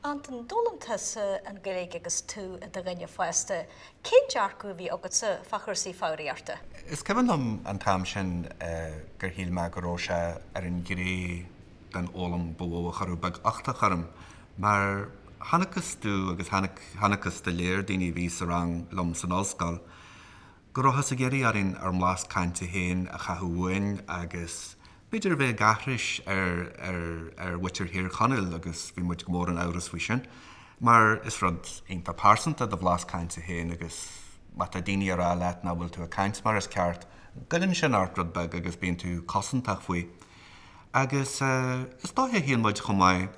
Antain, D'fhoghlaim tusa an Ghaeilge agus tú i do dhuine fásta. Cén dearcadh a bhí agatsa fá chúrsaí foghraíochta? Is cuimhin liom an t-am sin gur shíl mé go raibh sé ar an ghné den fhoghlaim ba mhó a chuireadh beaguchtach orm, mar chonacthas domh, agus chonacthas do lear daoine a bhí sa rang liom san ollscoil, go rabhthas ag iarraidh orainn ár mblas cainte féin a chaitheamh uainn agus b'fhéidir a bheith ag aithris ar mhuintir Thír Chonaill agus bhí muid go mór in amhras faoi sin mar is rud iontach pearsanta do bhlas cainte féin agus má tá daoine ag rá leat nach bhfuil tú ag caint mar is ceart, goilleann sin ort rud beag agus bíonn tú cosantach faoi agus is dóiche a shíl muid chomh maith.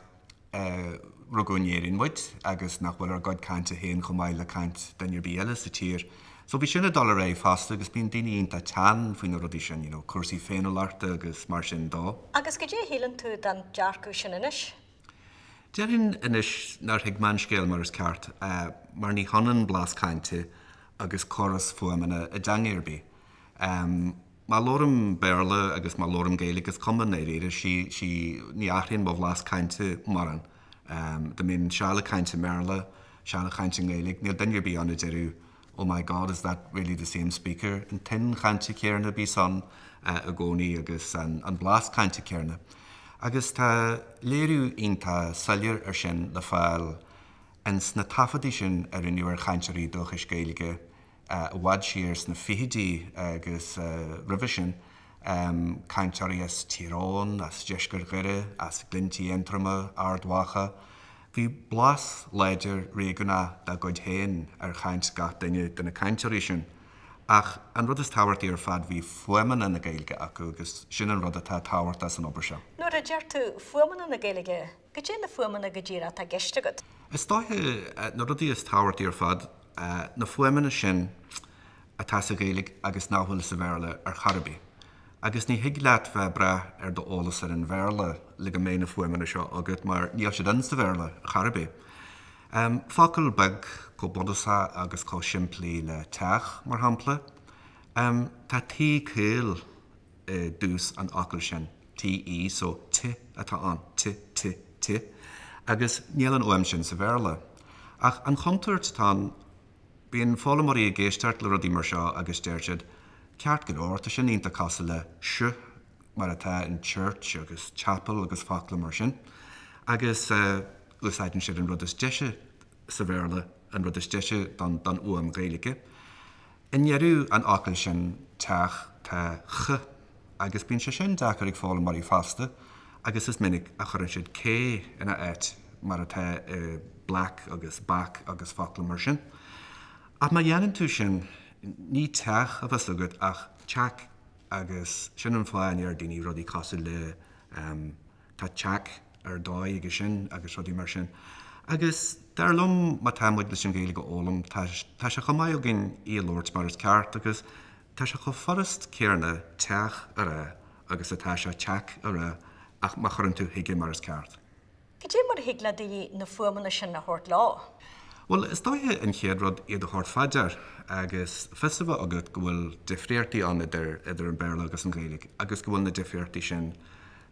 a rugadh in Éirinn muid agus nach bhfuil ár gcuid cainte féin chomh maith le caint duine ar bith eile sa tír. So bhí sin ag dul ar aghaidh fosta agus bíonn daoine iontach teann faoi na rudaí sin, cúrsaí féiniúlachta agus mar sin de. Agus goidé a shíleann tú den dearcadh sin anois? Déarfainn anois nár thuig mé an scéal mar is ceart mar ní hionann blas cainte agus córas fuaimeanna i dteanga ar bith. Má labhraím Béarla agus má labhraím Gaeilge, is cuma i ndáiríre, sí, sí, ní athraíonn mo bhlas cainte mórán. Dá mbeinn seal ag caint i mBéarla, seal ag caint i nGaeilge, níl duine ar bith ann a déarfadh, Oh my God, is that really the same speaker? An tuin chainte chéanna a bíos ann i gcónaí agus an blas cainte céanna. Agus tá léiriú iontach soiléir air sin le fáil ins na taifeadtaí sin a rinneadh ar chainteoirí dúchais Gaeilge i bhfad siar sna fichidí agus roimhe sin, cainteoirí as Tír Eoghain, as deisceart Dhoire, as Glinntí Aontroma, Ard Mhacha. Bhí blas láidir réigiúnach dá gcuid féin ar chaint gach duine de na cainteoirí sin. Ach an rud is tábhachtaí ar fad, bhí fuaimeanna na Gaeilge acu agus sin an rud atá tábhachtach san obair seo. Nuair a deir tú fuaimeanna na Gaeilge, goidé na fuaimeanna go díreach atá i gceist agat? Is dóiche na rudaí is tábhachtaí ar fad, na fuaimeanna sin atá sa Ghaeilge agus nach bhfuil sa Bhéarla ar chor ar bith. Agus ní thig leat bheith ag brath ar d'eolas ar an Bhéarla le go mbeidh na fuaimeanna seo agat mar níl siad ann sa Bhéarla chor ar bith. Focal beag chomh bunúsach agus chomh simplí le 'teach', mar shampla. Tá 't' caol i dtús an fhocail sin, TE, so, ti atá ann, ti, ti, ti, agus níl an fhuaim sin sa Bhéarla. Ach an chontúirt atá ann, bíonn foghlaimeoirí ag éisteacht le rudaí mar seo agus deir siad, ceart go leor, tá sin iontach cosúil le ch mar atá in church agus chapel agus focla mar sin, agus úsáideann siad an rud is deise sa Bhéarla, an rud is deise don fhuaim Ghaeilge. I ndeireadh an fhocail sin, teach, tá ch, agus bíonn sé sin deacair ag foghlaimeoirí fosta agus is minic a chuireann siad cé ina áit, mar atá i black agus back agus focla mar sin. Ach má dhéanann tú sin, ní teach a bheas agat ach teac agus sin an fáth a ndeir daoine rudaí cosúil le. Tá teac ar dóigh aige sin agus rudaí mar sin. Agus dar liom, má tá muid leis an Ghaeilge a fhoghlaim, tá sé chomh maith againn í a labhairt mar is ceart agus tá sé chomh furast céarna teach a rá agus atá sé teac a rá ach má chuireann tú chuige mar is ceart. Cad é mar a thig le daoine na fuaimeanna sin a thabhairt leo? Bhuel, is dóiche an chéad rud iad a thabhairt fá dear agus fios a bheith agat go bhfuil difríochtaí ann idir an Béarla agus an Ghaeilge agus go bhfuil na difríochtaí sin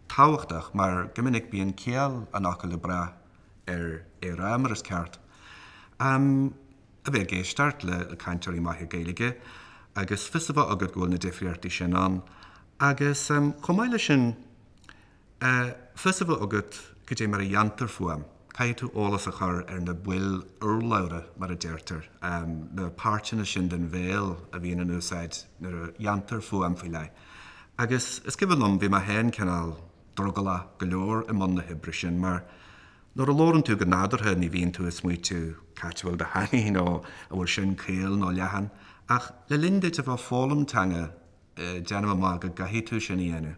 tábhachtach mar go minic bíonn ciall an fhocail ag brath ar ar mar is ceart a bheith ag éisteacht le cainteoirí maithe Gaeilge agus fios a bheith agat go bhfuil na difríochtaí sin ann agus chomh maith leis sin fios a bheith agat cad é mar a dhéantar fuaim. Caithfidh tú eolas a chur ar na baill urlabhra, mar a deirtear, na páirteanna sin den bhéal a bhíonn in úsáid nuair a dhéantar fuaim faoi leith. Agus is cuimhin liom, bhí mé féin cineál drogallach go leor i mbun na hoibre sin, mar nuair a labhrann tú go nádúrtha ní bhíonn tú ag smaoitiú cá háit a bhfuil do theangaidh nó an bhfuil sin caol nó leathan. Ach le linn duit a bheith ag foghlaim teanga, déanaim amach go gcaithfidh tú sin a dhéanamh.